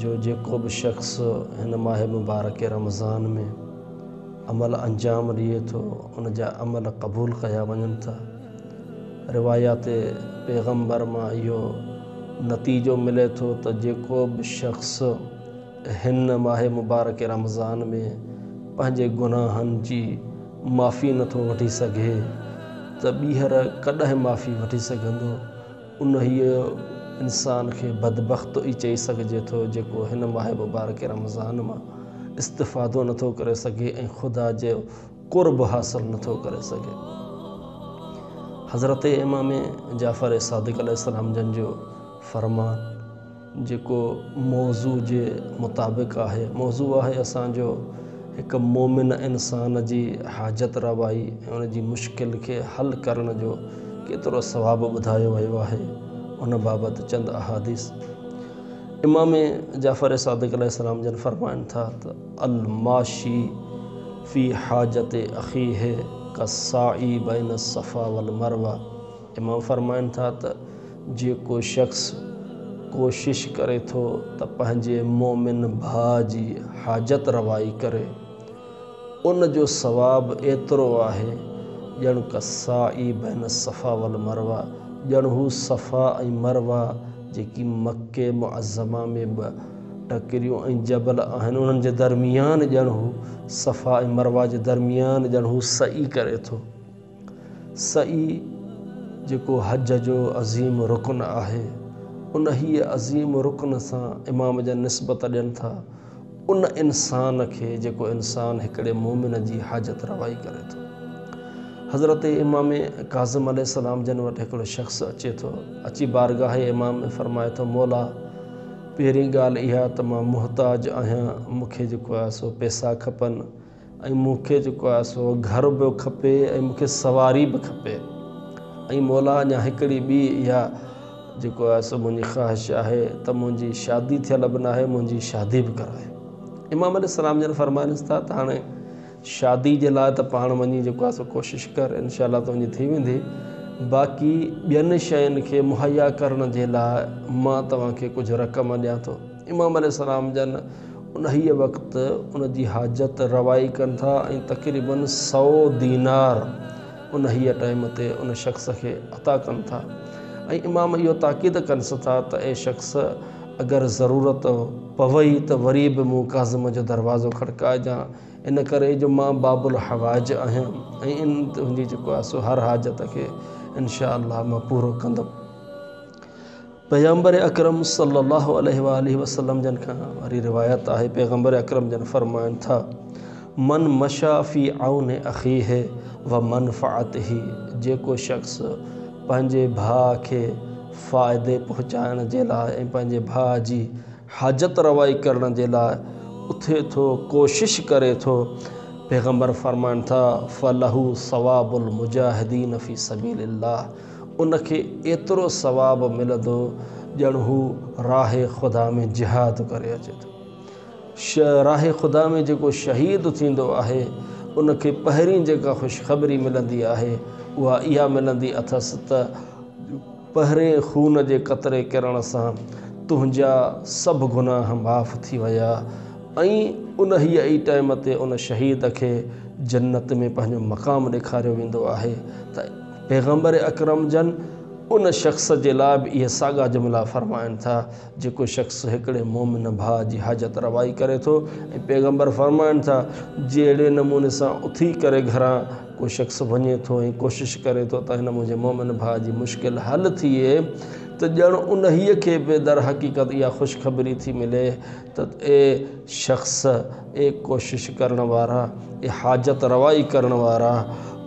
جو جيڪو به شخص هن ماه مبارڪ رمضان ۾ عمل انجام ڏئي ٿو ان جا عمل قبول ڪيا وڃن ٿا روايات پيغمبر مان اهو نتيجو ملي ٿو ته جيڪو به شخص هن ماه مبارڪ رمضان ۾ پنهنجي گناهن جي معافي نٿو وٺي سگهي ته ٻيهر ڪڏهن معافي وٺي سگهندو انهيء انسان کي بدبخت ئي چئي سگهجي ٿو، جيڪو هن ماه مبارڪ رمضان مان استفادو نه ٿو ڪري سگهي ۽ خدا جو قرب حاصل نه ٿو ڪري سگهي. حضرت امام جعفر صادق عليه السلام جن جو فرمان. جيڪو موضوع جي مطابق آهي. موضوع آهي اسان جو هڪ مومن انسان جي حاجت روائي ۽ ان جي مشڪل کي حل ڪرڻ جو ڪيترو ثواب ٻڌايو ويو آهي ان بابت چند احاديث امام جعفر صادق عليه السلام جن فرمائن ٿا ته الماشي في حاجت اخيه ڪالساعي بين الصفا والمروه امام فرمائن ٿا ته جيڪو شخص ڪوشش ڪري ٿو ته پنهنجي مؤمن ڀاء جي حاجت روائي ڪري، ان جو ثواب ايترو آهي ڄڻ ڪالسعي بين الصفا والمروه، ڄڻ هو صفا ۽ مروه جيڪي مڪي معظمه ۾ ٻه ٽڪريون ۽ جبل آهن انهن جي درميان ڄڻ هو صفا ۽ مروه جي درميان ڄڻ هو سعي ڪري ٿو. سعي جيڪو حج جو عظيم رڪن آهي انهيء عظيم رڪن سان امام جن نسبت ڏين ٿا ان انسان کي جيڪو انسان هڪڙي مؤمن جي حاجت روائي ڪري ٿو. حضرت امام ڪاظم عليه السلام جن وٽ هڪڙو شخص اچي ٿو اچي بارگاهه امام ۾ فرمائي ٿو مولا پهرين ڳالهه اها ته مان محتاج آهيان مون کي جيڪو آهي سو پيسا کپن ۽ مون کي جيڪو آهي سو گهر به کپي ۽ مون کي سواري به کپي ۽ مولا اڃا هڪڙي ٻي اها جيڪو آهي سو منهنجي خواهش آهي ته منهنجي شادي ٿيل به ناهي منهنجي شادي به ڪرائي امام عليه السلام جن فرمائنس ٿا ته هاڻي شادي جي لاء ته پاڻ وڃي جيڪو آهي سو ڪوشش ڪر انشاء الله تنهنجي ٿي ويندي باقي ٻين شين کي مهيا ڪرڻ جي لاء مان توهان کي ڪجهه رقم ڏيان ٿو امام عليه السلام جن انهيء وقت ان جي حاجت روائي ڪن ٿا ۽ تقريباً سؤ دينار انهيء ٽائيم تي ان شخص کي عطا ڪن ٿا ۽ امام اهو تاڪيد ڪنس ٿا ته اي شخص اگر ضرورت پوي ته وري به مون ڪازم جو دروازو کڙڪائجان ان ڪري جو مان باب الحوائج آهيان ۽ ان تنهنجي جيڪو آسو هر حاجت کي انشاء الله مان پورو ڪندم پيغمبر اڪرم صلّي اللّٰه عليه واٰله وسلّم جن کان وري روايت آهي، پيغمبر اڪرم جن فرمائن ٿا، من مشيٰ في عون اخيه و منفعته، جيڪو شخص پنهنجي ڀاء کي فائدي پهچائڻ جي لاء ۽ پنهنجي ڀاء جي حاجت روائي ڪرڻ جي لاء اٿي ٿو، ڪوشش ڪري ٿو، پيغمبر فرمائن ٿا، فلهو ثواب المجاهدين في سبيل اللّٰه، ان کي ايترو ثواب ملندو ڄڻ هو راهه خدا ۾ جهاد ڪري اچي ٿو. راهه خدا ۾ جيڪو شهيد ٿيندو آهي ان کي پهرين جيڪا خوشخبري ملندي آهي اها اها ملندي اٿس ته پهرين خون جي قطري ڪرڻ سان تنهنجا سڀ گناهه معاف ٿي ويا ۽ انهيء ئي ٽائيم تي ان شهيد کي جنت ۾ پنهنجو مقام ڏيکاريو ويندو آهي ته پيغمبر اڪرم جن ان شخص جي لاء به اهي ساڳا جملا فرمائن ٿا، جيڪو شخص هڪڙي مؤمن ڀاء جي حاجت روائي ڪري ٿو ۽ پيغمبر فرمائن ٿا، جهڙي نموني سان اٿي ڪري گهران ڪو شخص وڃي ٿو ۽ ڪوشش ڪري ٿو ته هن منهنجي مؤمن ڀاء جي مشڪل حل ٿئي ته ڄڻ انهيء کي به درحقيقت اها خوشخبري ٿي ملي ته اي شخص، اي ڪوشش ڪرڻ وارا، اي حاجت روائي ڪرڻ وارا!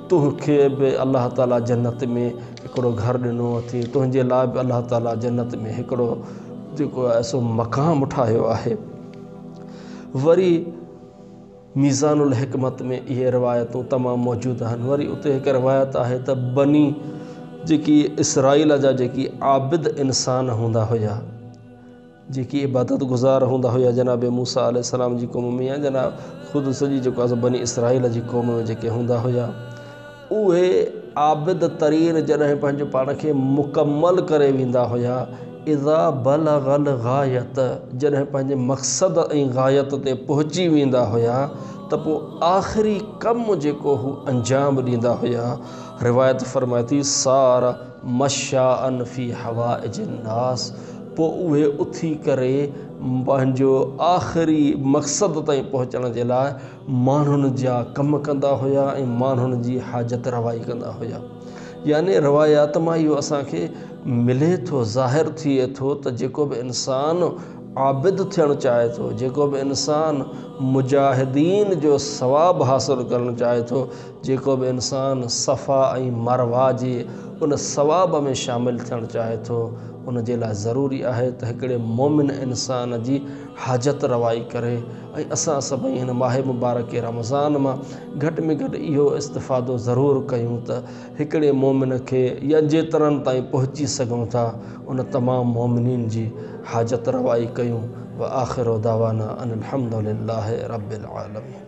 تون کي به الله تعالي جنت ۾ هڪڙو گهر ڏنو اٿئي تنهنجي لاء به الله تعالي جنت ۾ هڪڙو جيڪو آهي سو مقام ٺاهيو آهي وري ميزان الحڪمت ۾ اهي روايتون تمام موجود آهن وري اتي هڪ روايت آهي ته بني جيڪي اسرائيل جا جيڪي عابد انسان هوندا هيا جيڪي عبادت گذار هوندا هيا جناب موسيٰ عليه السلام جي قوم ۾ يا جناب خود سڄي جيڪو آهي سو بني اسرائيل جي قوم ۾ جيڪي هوندا هيا اهي عابد ترين جڏهن پنهنجو پاڻ کي مڪمل ڪري ويندا هيا اذا بلغ الغايت جڏهن پنهنجي مقصد ۽ غايت تي پهچي ويندا هيا ته پوء آخري ڪم جيڪو هو انجام ڏيندا هيا روايت فرمائي ٿي سار مشاء في حوائج الناس پوء اهي اٿي ڪري پنهنجو آخري مقصد تائين پهچڻ جي لاء ماڻهن جا ڪم ڪندا هيا ۽ ماڻهن جي حاجت روائي ڪندا هيا يعني روايات مان اهو اسان کي ملي ٿو ظاهر ٿئي ٿو ته جيڪو به انسان عابد ٿيڻ چاهي ٿو جيڪو به انسان مجاهدين جو ثواب حاصل ڪرڻ چاهي ٿو جيڪو به انسان صفا ۽ مروه جي ان ثواب ۾ شامل ٿيڻ چاهي ٿو، ان جي لاء ضروري آهي ته هڪڙي مؤمن انسان جي حاجت روائي ڪري ۽ اسان سڀئي هن ماه مبارڪ رمضان مان گهٽ ۾ گهٽ اهو استفادو ضرور ڪيون ته هڪڙي مؤمن کي يا جيترن تائين پهچي سگهون ٿا ان تمام مؤمنين جي حاجت روائي ڪيون وآخر دعوانا ان الحمدلله رب العالمين.